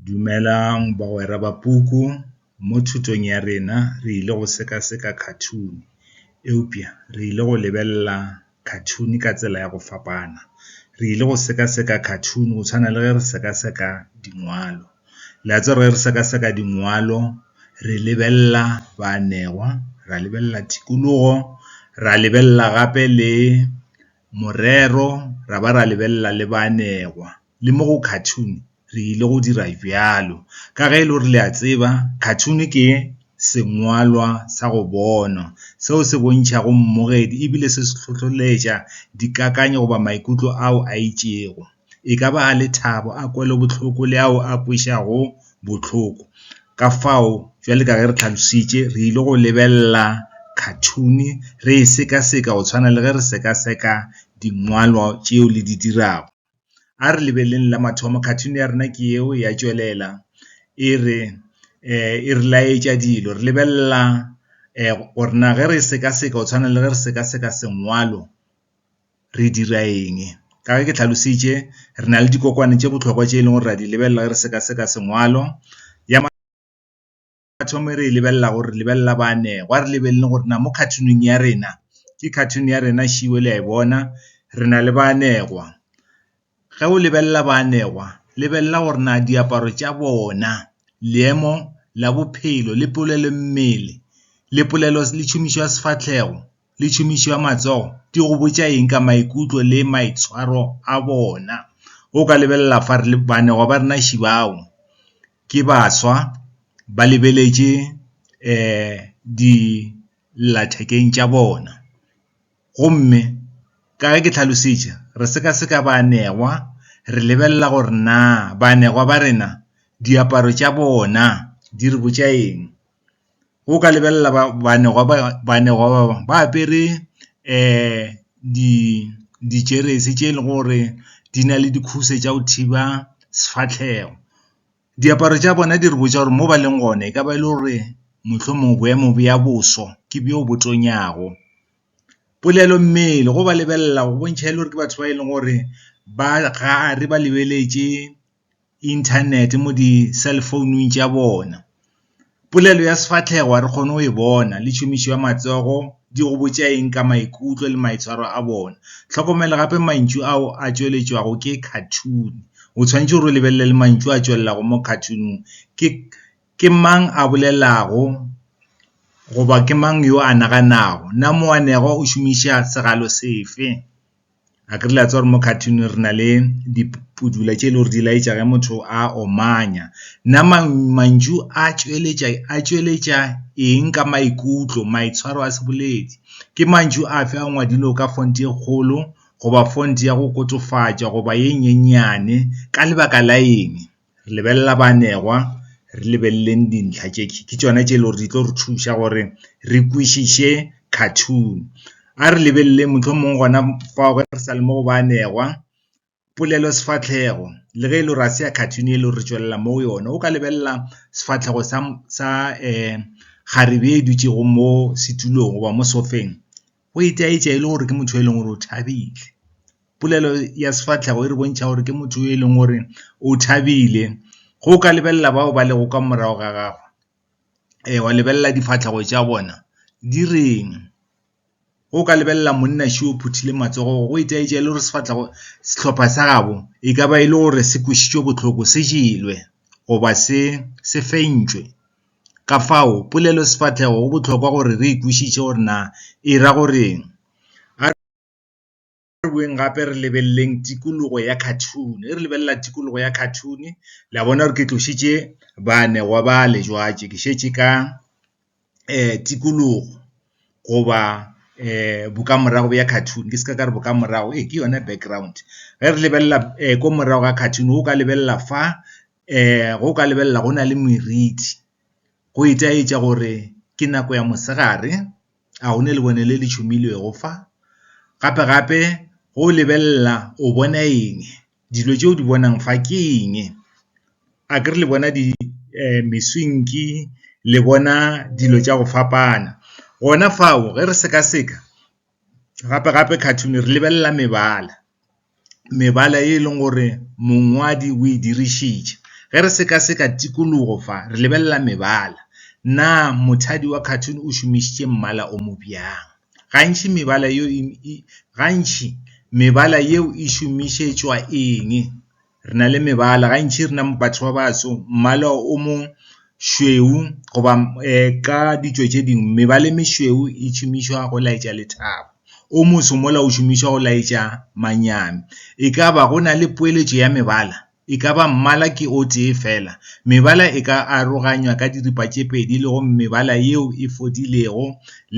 Dumelang bagwera ba puku, mo thutong ya rena re ile go sekaseka khathuni, eupša re ile go lebelela khathuni ka tsela ya go fapana. Re ile go sekaseka khathuni go tshwana le ge re sekaseka dingwalo. Le a tseba ge re sekaseka dingwalo re lebelela baanegwa, ra lebelela tikologo, ra lebelela gape le morero ra ba ra lebelela le baanegwa. le mo go cartoon re ile go dira bjalo. Ka ge e le gore le a tseba cartoon ke sengwalwa sa go bonwa seo se bontšhago mmogedi ebile se se hlohleletša dikakanyo goba maikutlo ao a itšego. E ka ba a lethabo, a kwelobohloko le ao a kwešago bohloko. Ka fao jwale ka ge re tlhalositše re ile go lebelela cartoon re e sekaseka go tshwana le ge re sekaseka dingwalwa tšeo le di dirago. A re lebeleleng la mathomo, cartoon ya rena ke eo ya tšwelela e re e re laetša dilo, re lebelela gore na ge re sekaseka go tshwana le ge re sekaseka sengwalo re dira eng. Ka ge ke tlhalositše re na le dikokwane tše bohlokwa tše e leng gore re a di lebelela ge re sekaseka sengwalo . batho e re e lebelela gore re lebelela ba ne gwa re lebelele gore na mo cartooneng ya rena ke cartoon ya rena šiwe le a e bona re na le ba anegwa ge o lebelela ba anegwa lebelela gore na diaparo tša bona leemo la bophelo le polelo mmele le polelo le tšhomišo ya sefahlego le tšhomišo ya matsogo di go botša eng ka maikutlo le maitshwaro a bona? O ka lebelela fa re le baanegwa ba rena ši bao ke baswa ba lebeletše um dillathekeng tša bona. Gomme ka ge ke hlalošitše, re sekaseka baanegwa re lebelela gore naa baanegwa ba rena diaparo tša bona di re botša eng. O ka lebelela baanegwa ba ba apere di dijeresi tse e le gore di na le dikhutshwe tsa go thiba sefatlhego. Diaparo tsa bona di re botsa gore mo ba leng gone e ka ba e le gore mohlomongwe boemo bja boso ke bjo bo tonyago. Polelo mmele go ba lebelela go bontšha e le gore ke batho ba e leng gore ba gare ba lebeletse. internet mo di cell founung tša bona. Polelo ya sefahlego ga re kgone go e bona le tšhomišo ya matsogo di go botša eng ka maikutlo le maitshwaro a bona. Hlokomela gape mantšu ao a tšweletšwago ke cartoon, o tshwanetse gore o lebelele le mantšu a tšwelelago mo cartoon-ung ke ke mang a bolelago goba ke mang yo a naganago, na moanegwa o šomiša segalo sefe. A ke re le a tseba gore mo cartoon re na le dipudula tše e le gore di laetša ge motho a omanya. Nna mantšu a tšweletša a tšweletša eng ka maikutlo, maitshwaro a seboledi? Ke mantšu a fe a ngwadilwe o ka font e kgolo goba font ya go kotofatša goba e nyenyane, ka lebaka la eng? re lebelela baanegwa re lebeleleng dintlha tše ke tšona tše e le gore di tlo re thuša gore re kwešiše cartoon a re lebelele mohlomongwe gona fa re sa le mo go baanegwa polelo sefahlego le ge e le gore a se ya cartoon e le gore re tšwelela mo go yone o ka lebelela sefahlego sa sa kgarebe e dutšego mo setulong goba mo sofeng. O itaetša e le gore ke motho e leng gore o thabile. Polelo ya sefahlego e re bontšha gore ke motho e leng gore o thabile. Ge o ka lebelela bao ba lego ka morago ga gagwe, ee wa lebelela difahlego tša bona di reng. Ge o ka lebelela monna še o phuthile matsogo go itaetša e le gore sefahlego, sehlopha sa gabo e ka ba e le gore se kwešitšwe bohloko, se jelwe goba se se fentšwe. Ka fao, polelosefahlego go bohlokwa gore re e kwešiše gore na e ra go re'ng. A re boeng gape re lebeleleng tikologo ya khathune. Ge re lebelela tikologo ya khathune, le a bona gore ke tlošitše baanegwa bale jwatše, ke šetše ka tikologo goba bokamorago bja khathune, ke se ka ka re bokamorago, ee ke yona background. Ge re lebelela ko morago ga khathune, o ka lebelela fa. ge o ka lebelela go na le meriti, go itaetša gore ke nako ya mosegare, a o ne lebone le le tšhomilwego fa? Gape-gape ge o lebelela o bona eng? Dilo tše o di bonang fa ke eng? Akere le bona di meswinki, le bona dilo tša go fapana. Gona fao ge re sekaseka. gape-gape cartoon re lebelela mebala, mebala e leng gore mongwadi o e dirišitše. Ge re seka-seka tikologo fa, re lebelela mebala, na mothadi wa cartoon o šomišitše mmala o mo bjang. Gantši mebala yeo e, gantši mebala yeo e šomišetšwa eng? Re na le mebala, gantši rena batho ba baso mmala o mo šweu goba ka ditšo tše dingwe mebala e mešweu e šomišwa go laetša lethabo. O moso mola o šomišwa go laetša manyami. E ka ba go na le poeletšo ya mebala? E ka ba mmala ke o tee fela? Mebala e ka aroganywa ka diripa tše pedi le go mebala yeo e fodilego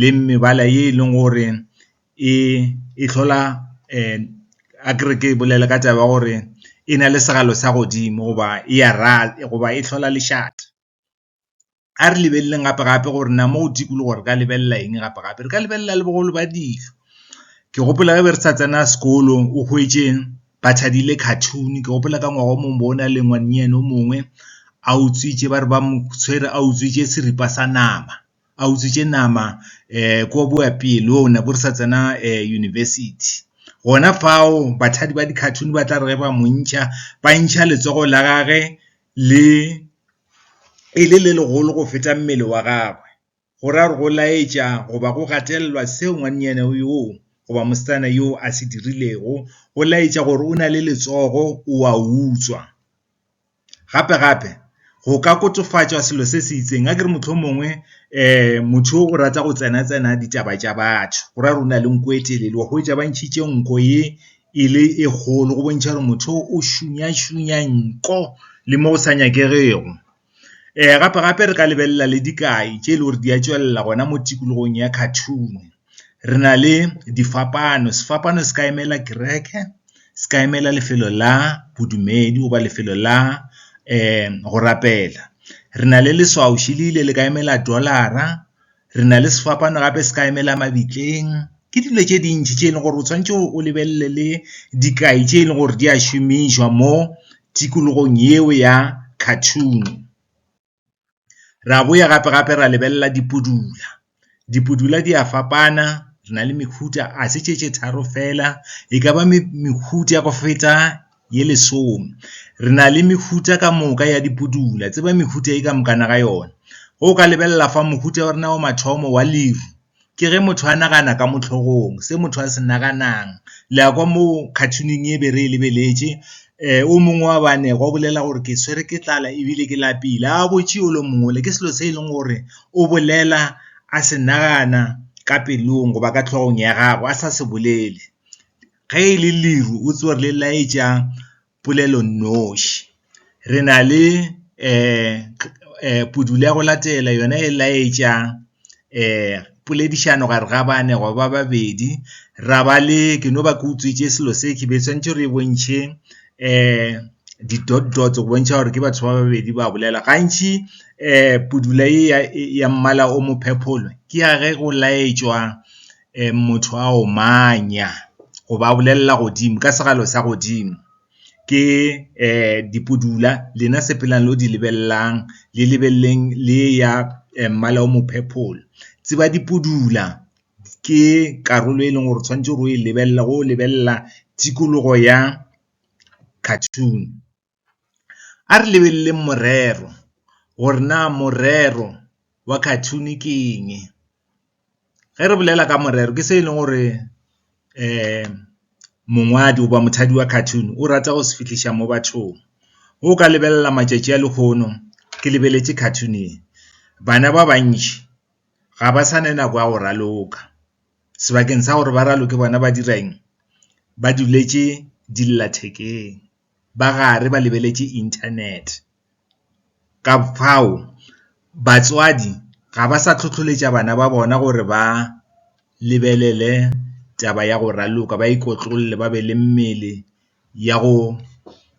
le mebala ye e leng gore e e hlola a ke re ke bolele ka taba ya gore e na le segalo sa godimo goba e ya goba e hlola lešata. A re lebeleleng gape gape gore na mo go dikologo re ka lebelela eng gape gape, re ka lebelela le bogolo ba dilo. Ke gopola ge be re sa tsena sekolo o hwetše ba thadile cartoon, ke gopola ka ngwaga o mongwe bo na le ngwanenyana o mongwe a utswitše ba re ba mo tshwere a utswitše seripa sa nama. a utswitše nama ko boapeelong nabo re sa tsena university. Gona fao bathadi ba di-cartoon ba tla re ge ba mo ntšha ba ntšha letsogo la gage le e le le legolo go feta mmele wa gagwe, go ra gore go laetša goba go gatelelwa seo ngwannyana yoo goba mosetsana yoo a se dirilego go laetša gore o na le letsogo o a utswa. Gape-gape go ka kotofatšwa selo se se itseng, a ke re mohlomongwe um motho o rata go tsena-tsena ditaba tša batho, go ra gore o na le nko e telele, wa hwetša ba ntšhitše nko ye e le e kgolo go bontšha gore motho o o šunya-šunya nko le mo go sa nyakegego. Um gape-gape re ka lebelela le dikai tše e le gore di a tšwelela gona mo tikologong ya cartoon. Re na le difapano, sefapano se ka emela kereke, se ka emela lefelo la bodumedi goba lefelo la go rapela. Re na le leswaoši le ile le ka emela dollar-ra, re na le sefapano gape se ka emela mabitleng. Ke dilo tše dintši tše e leng gore o tshwanetse o lebelele le dikai tše e leng gore di a šomišwa mo tikologong yeo ya cartoon. Ra boya gape-gape ra lebelela dipudula. Dipudula di a fapana, re na le mehuta ga se tše tše tharo fela, e ka ba mehuta go feta ye lesome. Re na le mehuta ka moka ya dipudula, tseba mehuta e ka mokana ga yona. Ge o ka lebelela fa, mohuta wa rena wa mathomo wa leru, Ke ge motho a nagana ka mo hlogong, se motho a se naganang. Le a kwa mo cartoon-ing e be re e lebeletše, o mongwe wa banego o bolela gore ke tshwere ke tlala ebile ke lapile. A botše yo le mongwe le, ke selo se e leng gore o bolela a se nagana ka pelong goba ka hlogong ya gagwe a sa se bolele. Ge e le leru o tsowa re le laetša. polelonoši. Re na le pudulo ya go latela yona e laetša poledišano gare ga bane go ba babedi, ra ba le ke no ba ke utswitše selo se ke be tshwanetse re bontšhe di-dot dots go bontšha gore ke batho ba babedi ba bolela. Gantši pudulo e ya mmala o mo purple ke ya ge go laetšwa um motho a omanya goba a bolelela godimo ka segalo sa godimo. Ke um dipudula lena sepelang lo di lebelelang, le lebeleleng le eya um mmala o mo purple. Tseba dipudula ke karolo e leng gore tshwanetse o e lebelele, o lebelela tikologo ya cartoon. A re lebeleleng morero, gore na morero wa cartoon ke eng. Ge re bolela ka morero, ke se e leng gore mongwadi goba mothadi wa cartoon o rata go se fihliša mo bathong. Ge o ka lebelela matšatši a lehono, ke lebeletše cartoon e, bana ba bantši ga ba sa ne nako ya go raloka, sebakeng sa gore ba raloke bona ba dira eng, ba duletše dillathekeng. ba gare ba lebeletše Internet. Ka fao, batswadi ga ba sa hlohleletša bana ba bona gore ba lebelele taba ya go raloka, ba ikotlolle, ba be le mmele ya go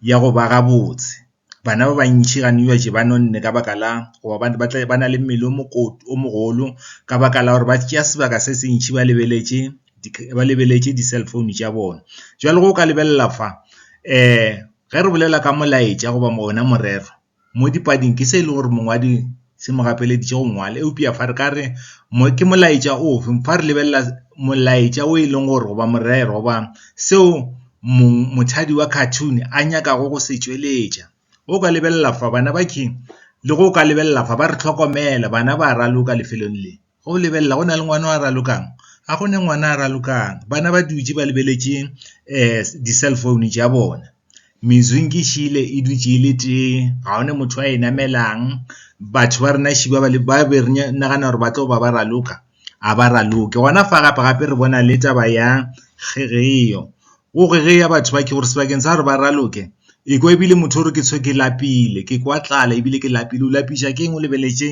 ya go ba gabotse. Bana ba bantši gantši ba nonne ka baka la go ba ba tle ba na le mmele o mogolo ka baka la gore ba tšea sebaka se se ntši ba lebeletše. ba lebeletše di-cell phone tša bona. Bjale go ka lebelela fa ge re bolela ka molaetša goba ona morero mo dipading ke se e le gore mongwadi se mo gapeleditše go ngwala. Eupša fa re ka re ke molaetša o fe? Fa re lebelela molaetša o e leng gore goba morero goba seo mothwadi wa cartoon a nyakago go se tšweletša. O ka lebelela fa bana le go ka lebelela fa ba re hlokomela, bana ba raloka lefelong le. Go lebelela go na le ngwana wa ralokang, ga go ne ngwana a ralokang. Bana ba dutše ba lebeletše di-cell phone tša bona. Mezwing ke šele e dutše e le tee, ga go na motho a e namelang. Batho ba rena ši ba be re nagana gore ba tlo ba ba raloka, ga ba raloke. Gona fa gape-gape re bona le taba ya kgegeo. Go kgegea batho ba ke gore sebakeng sa gore ba raloke, e ko ebile motho o re ke tshwe ke lapile, ke kwa tlala ebile ke lapile. O lapišwa ke eng? O lebeletše .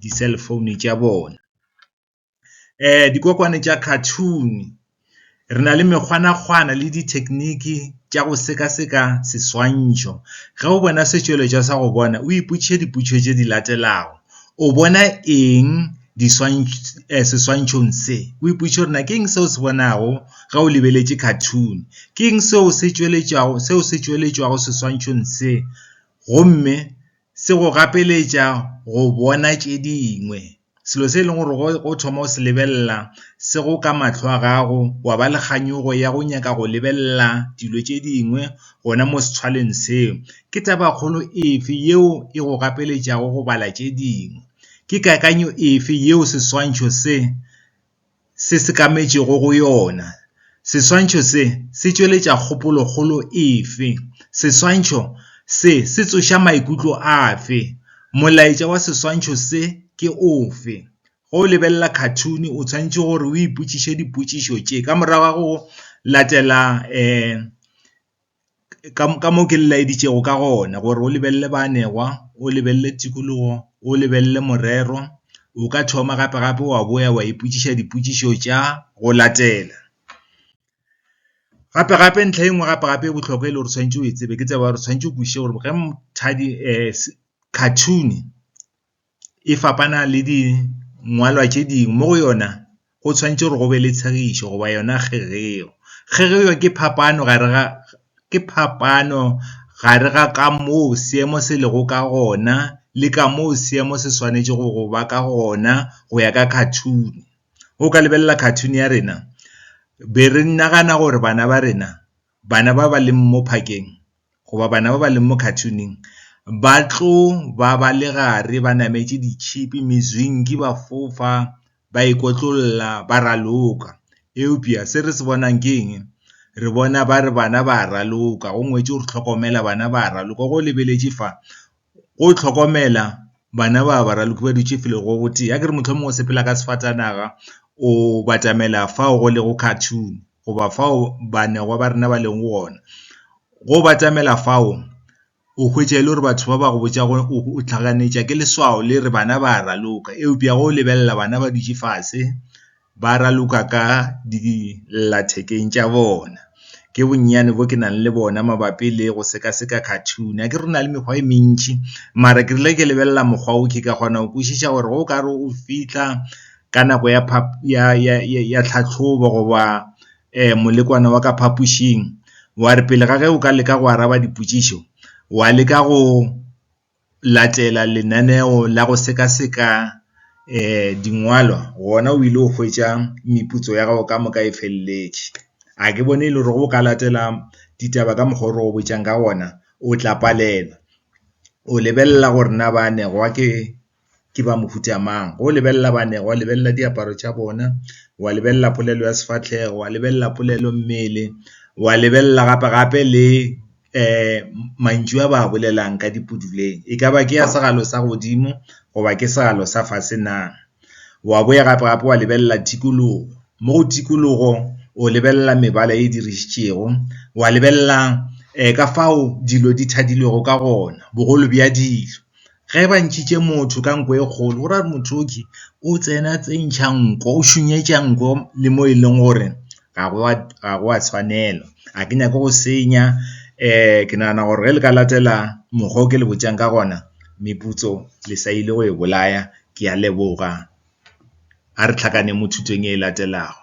di-cell phone tša bona. Dikokwane tša cartoon, re na le mekgwanakgwana le di-technique tša go sekaseka seswantšho. Ge o bona setšweletšwa sa go bona, o ipotšiše dipotšišo tše di latelago, O bona eng seswantšhong se? O ipotšiše gore na ke eng seo o se bonago ge o lebeletše cartoon? Ke eng seo se tšweletšwago seswantšhong se? Gomme. se go gapeletša go bona tše dingwe. Selo se e leng gore o thoma go se lebelela se go ka mahlo a gago, wa ba le kganyogo ya go nyaka go lebelela dilo tše dingwe gona mo sethwaleng seo. Ke tabakgolo efe yeo e go gapeletšago go bala tše dingwe? Ke kakanyo efe yeo seswantšho se se sekametšego go yona. Seswantšho se se tšweletša kgopolokgolo efe? Seswantšho se se tsoša maikutlo afe? Molaetša wa seswantšho se ke ofe? Ge o lebelela khathune o tshwanetše gore o ipotšiše dipotšišo tše, ka morago ga go latela. ka mo ke le laeditšego ka gona gore o lebelele baanegwa, o lebelele tikologo, o lebelele morero, o ka thoma gape gape wa boya wa ipotšiša dipotšišo tša go latela. Gape gape ntlha e nngwe gape gape e bohlokwa e le gore o swanetše o e tsebe ke tsebe gore o swanetše o kwešiše gore ge cartoon. e fapana le di ngwalwa tše dingwe mo go yona go tshwanetse gore go be le tshegišo goba yona kgegeo. Kgegeo ke phapano gare ga ke phapano gare ga ka moo seemo se lego ka gona le ka moo seemo se swanetše go go ba ka gona go ya ka cartoon. Go ka lebelela cartoon ya rena be re nagana gore bana ba rena bana ba ba leng mo phakeng, goba bana ba ba leng mo cartoon-ing ba tlo ba ba le gare ba nametše ditšhipi, mezwinki, ba fofa, ba ikotlolla, ba raloka. Eupša se re se bonang ke eng? Re bona ba re bana ba raloka, go ngwetšwe gore hlokomela bana ba raloka. Ge o lebeletše fa, go hlokomela bana ba ba raloki ba dutše felo go gotee, ya ke re mohlomongwe o sepela ka sefatanaga o batamela fao go lego cartoon goba fao baanegwa ba rena ba leng gona. Ge o batamela fao o hwetša e le gore batho ba ba go botša gore o hlaganetša ke leswao le re bana ba raloka, eupša ge o lebelela bana ba dutše fase ba raloka ka dillathekeng tša bona. Ke bonnyane bo ke nang le bona mabapi le go sekaseka cartoon. Akere go na le mekgwa e mentši, mara ke rile ke lebelela mokgwa o ke ka kgona go kwešiša gore ge o ka re o fihla ka nako ya ya, ya, ya, ya tlhahlobo goba molekwane wa ka phapošing, wa re pele ga ge o ka leka go araba dipotšišo, wa leka go latela lenaneo la go sekaseka dingwalwa gona o ile go hwetša meputso ya gago ka moka e feleletše. A ke bone e le gore o ka latela ditaba ka mokgwa o re go botšang ka gona o tla palelwa. O lebelela gore na ba anegwa ke ke ba mohuta mang. Go lebelela banego, wa lebelela diaparo tša bona, wa lebelela polelo ya sefahlego, wa lebelela polelo mmele, wa lebelela gape gape le mantšu a ba a bolelang ka dipuduleng. E ka ba ke ya segalo sa godimo goba ke segalo sa fase na. Wa boya gape gape wa lebelela tikologo, mo go tikologo o lebelela mebala e dirišitšego, wa lebelela ka fao dilo di thadilwego ka gona, bogolo bja dilo. Ge ba ntšhitše motho ka nko e kgolo, go ra gore motho oke o tsena tse ntšha nko, o šunyetša nko le mo e leng gore ga go a, ga go a tshwanela. A ke nyake go senya, ke nagana gore ge le ka latela mokgwa o ke le botšang ka gona, meputso le sa ile go e bolaya. Ke a leboga. A re tlhakaneng mo thutong e latelago.